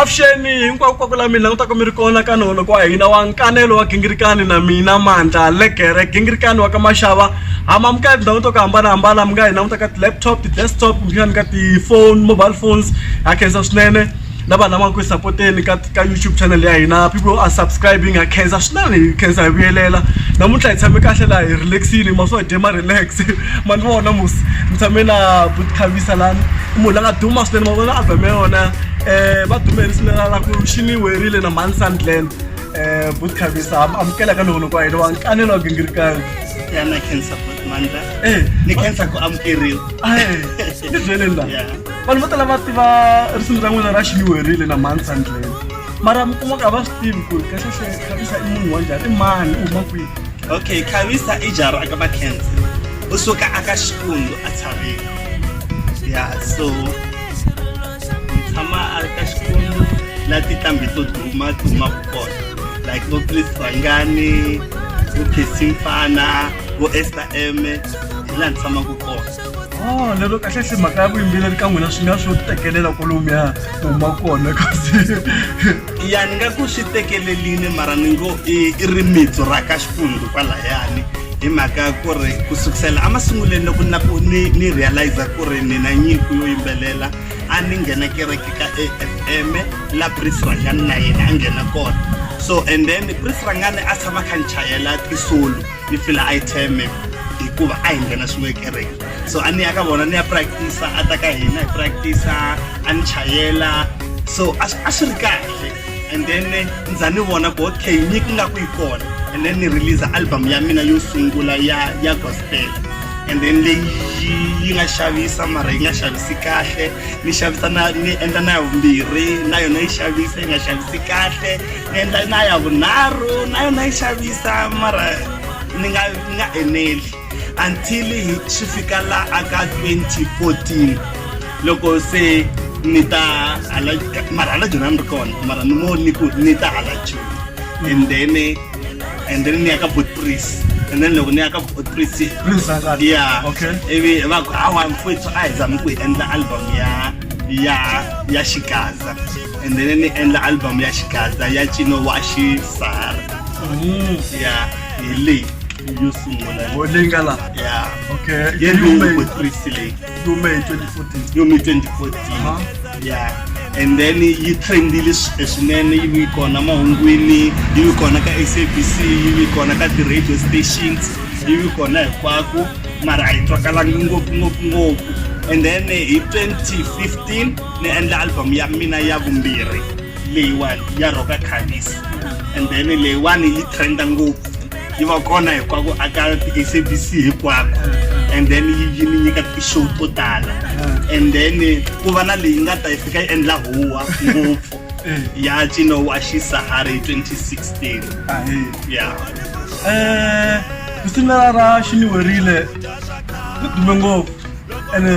avuxeni hinkwako kwaku la mina langutaka mi ri kona ka noho loko wa hina wa nkanelo wa gingirikani na mina mandla legere gingirikani wa ka maxava hama mi ka tindhawu to ku hambanahambana mi nga hi languta ka ti-laptop ti-desktop kumbexani ka ti-phone mobile phones ha khensa swinene na vanhu lava nga ku hi sapoteni ka ka youtube channel ya hina people are subscribing ha khensa swinene hi khensa hi vuyelela namuntlha hi tshame kahle laha hi relaxile ma swo dye ma relax ma ni vona musi ni tshame na buti khavisa lani i munhu la nga duma swinene ma vona album ya yona um va dumele swinene la ku xi ni werile na mhani sandland um buti khavisa amukela ka nohono kwa hina wa nkanelo wa gingirikani ya na khensa buti mandla ni khensa ku amukeriwa ni byeleni laha vanhu vo tala va tiva risimu ra n'wina ra xiliwerile na mansa ndlela mara mi kuma ka va swi tivi ku ri kahlekahle khavisa i munhu wa njhani i mani u huma kwihi okay khavisa i jara aka va cancer u suka aka xikundu a tshavile ya so ni tshama a ri ka xikundu la tinqambi to duma duma ku kona like vo chris vangani vo khesimfana vo ester m hi laha ni tshamaka kona Oh, lero kahle se mhaka ya vuyimbeleri ka n'wina swi nga swo tekelela kolomuya huma kona kasi ya ni nga ku swi tekeleline mara ni ngo i rimitsu ra ka xifundu kwalayani hi mhaka ku ri ku sukusela emasungulweni loko na ku ni ni realize ku ri ni na nyiko yo yimbelela a ni nghena kereke ka a f m la pris rangani na yena a nghena kona so and then pris rangani a tshama kha ni chayela tisolo ni fila a yi teme hikuva a hi nghena swin'we kereke so a ni ya ka vona ni ya practice a ta ka hina hi practice a ni chayela so a swi ri kahle and then ndza ni vona ku okay nyiki nga ku yi kona and then ni release album ya mina yo sungula ya ya gospel and then leyi yi nga xavisa mara yi nga xavisi kahle ni xavisa na ni endla na ya vumbirhi na yona yi xavisa yi nga xavisi kahle ni endla na ya vunharhu na yona yi xavisa mara ni nga ni nga eneli until hi swi fika la aka 2014 loko se ni ta hala mara hala joni a ni ri kona mara ni ngo ni ku ni ta hala joni and then and then ni ya ka botpris and then loko ni ya ka botpris ya ivi va ku hawa mfwethu a hi zami ku hi endla album ya ya ya xikaza and then ni endla album ya xikadza ya cino wa xisara mm. ya hi leyi yo sungula oh, leyi nga la ya okay ye lume christ leyi lume 2014 lume 2014 ya and then yi trendile swinene yi vi kona mahungwini yi vi kona ka sabc yi vi kona ka ti-radio stations yi vi kona hinkwako mara a yi twakalanga ngopfu ngopfu ngopfu and then hi 2015 ni endla album ya mina ya vumbirhi leyiwani ya roka khavis and then leyiwani yi trenda ngopfu yi va kona hikwako aka ti-sabc hikwako and then yi yi ni nyika ti-show to tala and then ku va na leyi nga ta yi fika yi endla huwa ngopfu ya cino wa xisahara hi 2016 ya um risimu ra ra xiniwerile ri dume ngopfu ene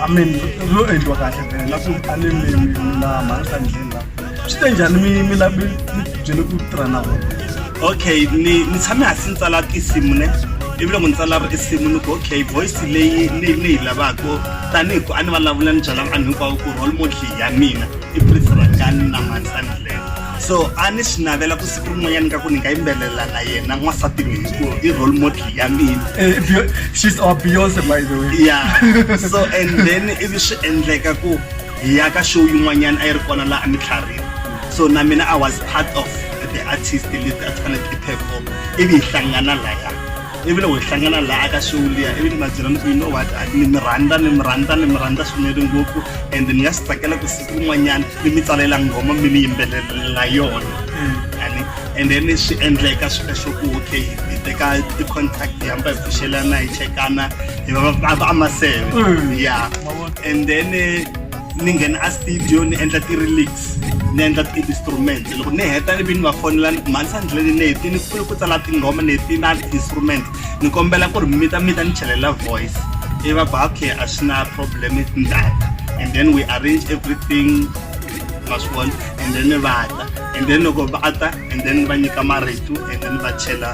i mean lo endliwa kahle vele na ku a ni mi na mhaka ndlela swi te njhani mi mi la mi byele ku tirha na vona okay ni ni tshame hansi ni tsala tinsimu ne ivi loko ni tsala risimu ni ku okay voice leyi ni ni yi lavaka tanihi ku a ni vulavula ni byela vanhu hinkwavo ku role model ya mina i prince rangani na mansani so a ni swi navela ku siku rin'wanyani ka ku ni nga yimbelela na yena n'wansati mi hi ku i role model ya mina Eh, Bey- she's our beyonce by the way ya so and then ivi swi endleka ku hi ya ka show yin'wanyana a yi ri kona laha a ni tlharhini so na mina i was part of the artist leti a ti fanele ti perform ivi hi hlangana laya ivi loko hi hlangana laha ka show liya ivi ni va byela ni ku you know what ni mi rhandza ni mi rhandza ni mi rhandza swinene ngopfu and ni nga swi tsakela ku siku rin'wanyana ni mi tsalela nghoma mi ni yimbelelela yona ani and then swi endleka swi ka xoku okay hi teka ti-contact hi hamba hi pfuxelana hi chekana hi va va va amaseve ya and then eh, ni nghena a studio ni endla ti-relics ni endla ti-instrument loko ni heta ivi ni va fonela ni ku mhanisa ndleleni ni heti ni pfule ku tsala tinghoma ni heti na ti-instrument ni kombela ku ri mita mita ni chelela voice i va ku okay a swi na problem i tindata and then we arrange everything ma swi vona and then ni va ta and then loko va ta and then ni va nyika marito and then ni va chela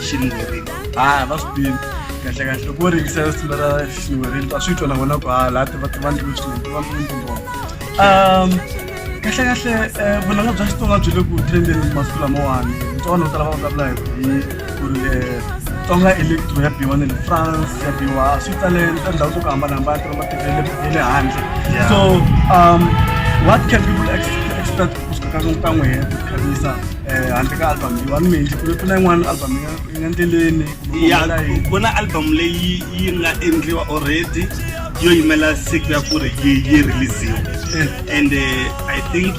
xinwirini ah va swi tiva kahle kahle loko wo ringisela sitina ra xiwereni ta swi twa na vona ku ha laha ti va ti va ndlulu swinene ti va ndlulu tingoma um kahle kahle eh, vunanga bya xitsonga byi le ku trendeni masiku lamawani tsonga no tala va vulavula hi ku ri eh, tsonga electro ya biwa ne le france ya biwa a swi tale ka ndhawu to ku hambanahambana ti va matiko ya le- ya le handle Yeah. so um what can people ex- expect kusuka ka ka n'we hi ku khavisa eh, handle ka album leyiwani mi hi ku ri ku na yin'wana album ya endleleni ya ku na album leyi yi nga endliwa already yo yimela siku ya ku ri yi yi releasiwa eh. and uh, i think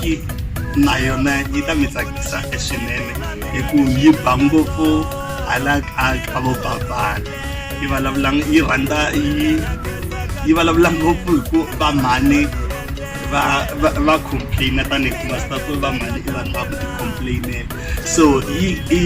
na yona yi ta mi tsakisa swinene hi ku yi ba ngopfu hala ka ka vo babana yi vulavula yi rhandza yi yi vulavula ngopfu hi ku va mhani va va va complaina tanihi ku va swi ta ku va mhani i vanhu va ku ti complainela so i i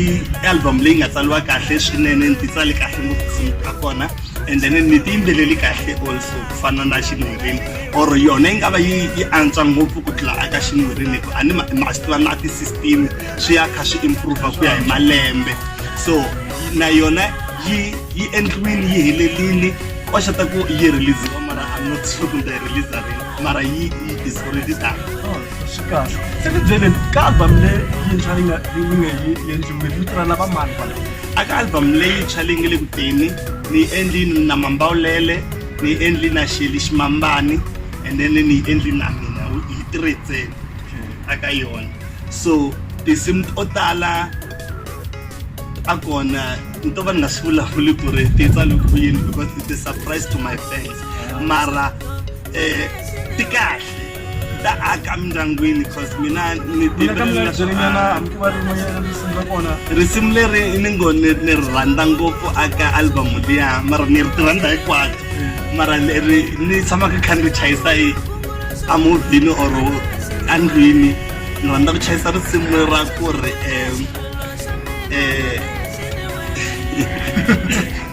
album leyi nga tsaliwa kahle swinene ni ti tsale kahle ngopfu tinsimu ta kona and then ni ti yimbeleli kahle also ku fana na xinwirini or yona yi nga va yi yi antswa ngopfu ku tlula aka xinwirini hikuva a ni ma ma swi tiva na ti-system swi ya kha swi improve ku ya hi malembe so na yona yi yi endliwini yi helelini koxa ta ku yi release mara i'm not sure kumbe release rini mara yi is already done swi kahle se ni byeleni ka album le yintshwa leyi nga leyi nga yi endliwile vito ra lava mani kwala a ka album leyintshwa leyi nga le ku teni ni yi endlini na mambawulele ni yi endli na xeli ximambani and then ni yi endli na mina wu- hi three ntsena a ka yona so tinsimu to tala a kona ni to va ni nga swi vulavuli ku ri ti tsale ku yini because it's a surprise to my fans mara eh ti kahle ta aka mindyangwini cause mina ni timbelela swinyana hambi va ri moyela risimu ra kona risimu leri ni ngo ni ni ri rhandza ngopfu aka album liya mara ni ri tirhandza hinkwato mara leri ni tshamaka kha ni ri chayisa yi amovhini or andlwini ni rhandza ku chayisa risimu ra ku ri um um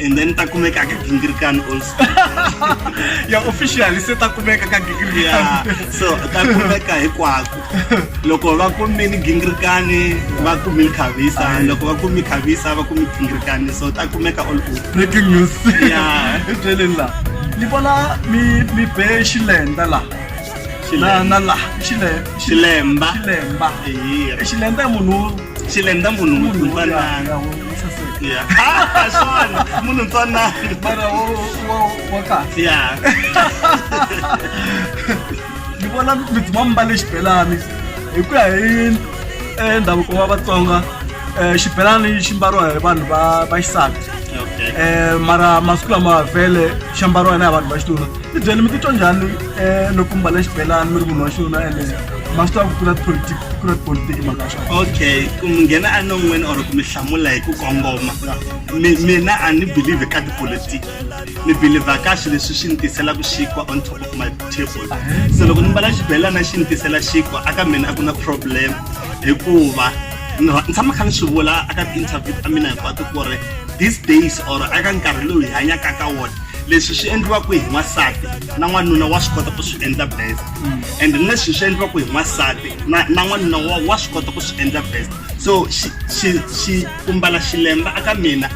and then ta kumeka ka gingirkan also ya officially se ta kumeka ka gingirkan so ta kumeka hikwako loko va kumini gingirkani va kumi khavisa loko va kumi khavisa va kumi gingirkani so ta kumeka all good breaking news ya byeleni la ni vona mi mi be xilenda la na na la xile xilemba xilemba xilemba munhu xilemba munhu munhu Yeah. Ah, swani munhu ntsanani mara wo wo wo kahle yeah ni vona mi dzima mbale xibelani hi ku ya hi eh, ndhavuko wa vatsonga eh, xibelani xi mbariwa hi vanhu va va xisati okay Eh, mara masiku lama vhele xi ambariwa na hi vanhu va xitulu ti byele mi titwa njhani um loko mbala xibelani mi ri munhu wa xuna ene ma swi tiva ku kula tipolitik kula tipolitiki mhaka ya swona okay ku mi nghena enon'weni or ku mi hlamula hi ku kongoma mina a ni believe ka tipolitiki ni believe ka swi leswi swi ni tiselaka xinkwa on top of my table se loko ni mbala xibelana xi ni tisela xinkwa aka mina a ku na problem hikuva ni tshama kha ni swi vula aka ti-interview ta mina hinkwato ku ri these days or aka nkarhi lowu hi hanyaka ka wona leswi swi endliwaka hi n'wansati na n'wanuna wa swi kota ku swi endla best and leswi swi endliwaka hi n'wansati na na n'wanuna wa wa swi kota ku swi endla best so xi- xi- xi- ku mbala xilemba aka mina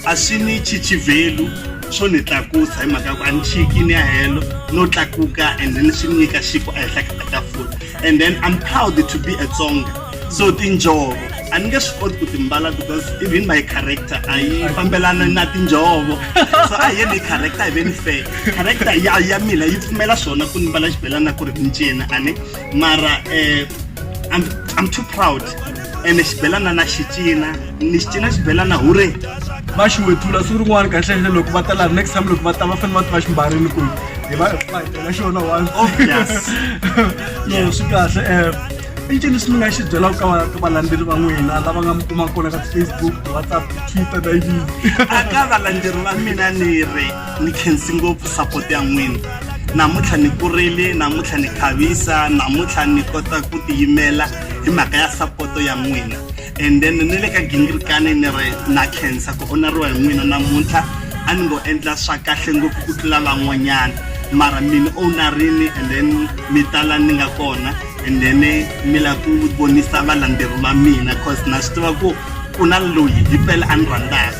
a swi ni chichivelu swo ni tlakusa hi mhaka ya ku a ni chiki ni ya helo no tlakuka and ni swi nyika xipo ehenhla ka tafula and then i'm proud to be a tsonga so tinjhovo a ni nge swi koti ku timbala because even my character a yi fambelana na tinjhovo so a hi ni character hi ve ni fair character ya ya mina yi pfumela swona ku ni mbala xibelana ku ri mincina a ni mara um i'm i'm too proud ene xibelana na xi cina ni xi cina xibelana hure va xi wetula siku rin'wana kahlele loko va ta laha next time loko va ta va fanele va tiva ximbarini ku hi va va hi tela xona one oh, no swi kahle um i ncini swi mi nga xi byelaka ka ka valandzeri va n'wina lava nga mi kumaka kona ka ti-facebook ti-whatsapp twitter na yini a ka valandzeri va mina ni ri ni khensi ngopfu support ya n'wina namuntlha ni kurile namuntlha ni khavisa namuntlha ni kota ku tiyimela hi mhaka ya sapoto ya n'wina and then ni le ka gingirikani ni ri na cancer ku oneriwa hi n'wina namuntlha a ni ngo endla swa kahle ngopfu ku tlula van'wanyana mara mina o na rini and then mi tala ni nga kona and then mi la ku vonisa valandzeri va mina cause na swi tiva ku ku na loyi hi pele a ni rhandzaka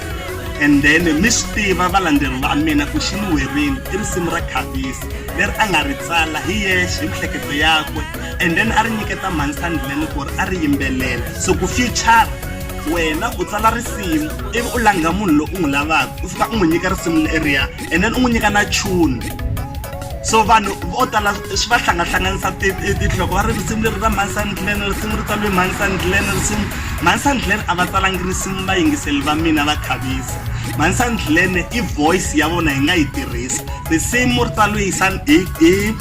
and then mi swi tiva valandzeri va mina ku xi ni werini i risimu ra khavisi leri a nga ri tsala hi yexe hi mihleketo yakwe and then a ri nyiketa mhani sandlene ku ri a ri yimbelela so ku future wena u tsala risimu ivi u langha munhu loyi u n'wi lavaka u fika u n'wi nyika risimu leriya and then u n'wi nyika na chuni so vanhu vo tala swi va hlangahlanganisa tinhloko va ri risimu leri ra mhani sandlene risimu ri tsaliwe mhani sandlene risimu mhani sandlene a va tsalangi risimu va yingiseli va mina va khavisa mhani sandlene i voice ya vona hi nga yi tirhisa risimu ri tsaliwe hi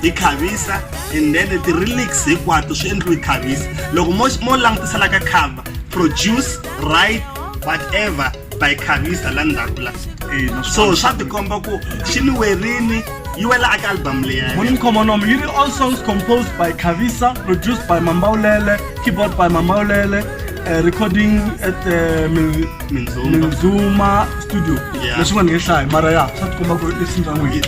hi khavisa and then ti-relics hinkwato swi endliwe khavisa loko mo mo langutisela ka cover produce right whatever by khavisa la ndzhaku la so swa tikomba ku xi ni werini yi wela aka album leya morning comonom yi ri all songs composed by khavisa produced by mambawulele keyboard by mambawulele uh, recording at uh, minzuma studio leswin'wana ni nge hlayi mara ya swa tikomba ku ri esinzan'wini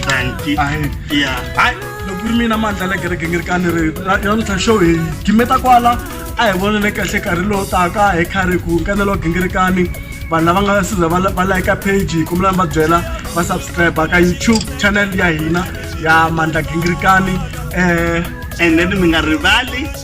hayi loko ku ri mina mandla la kereke ngi ri kani ri namuntlha show hi gimeta kwala a hi vonele kahle karhi lowu taka hi khari ku nkanelo wa gingirikani vanhu lava nga siza va layika page hi kombelani va byela va subscribe ka youtube channel ya hina ya mandla gingirikani um eh, and then mi nga rivali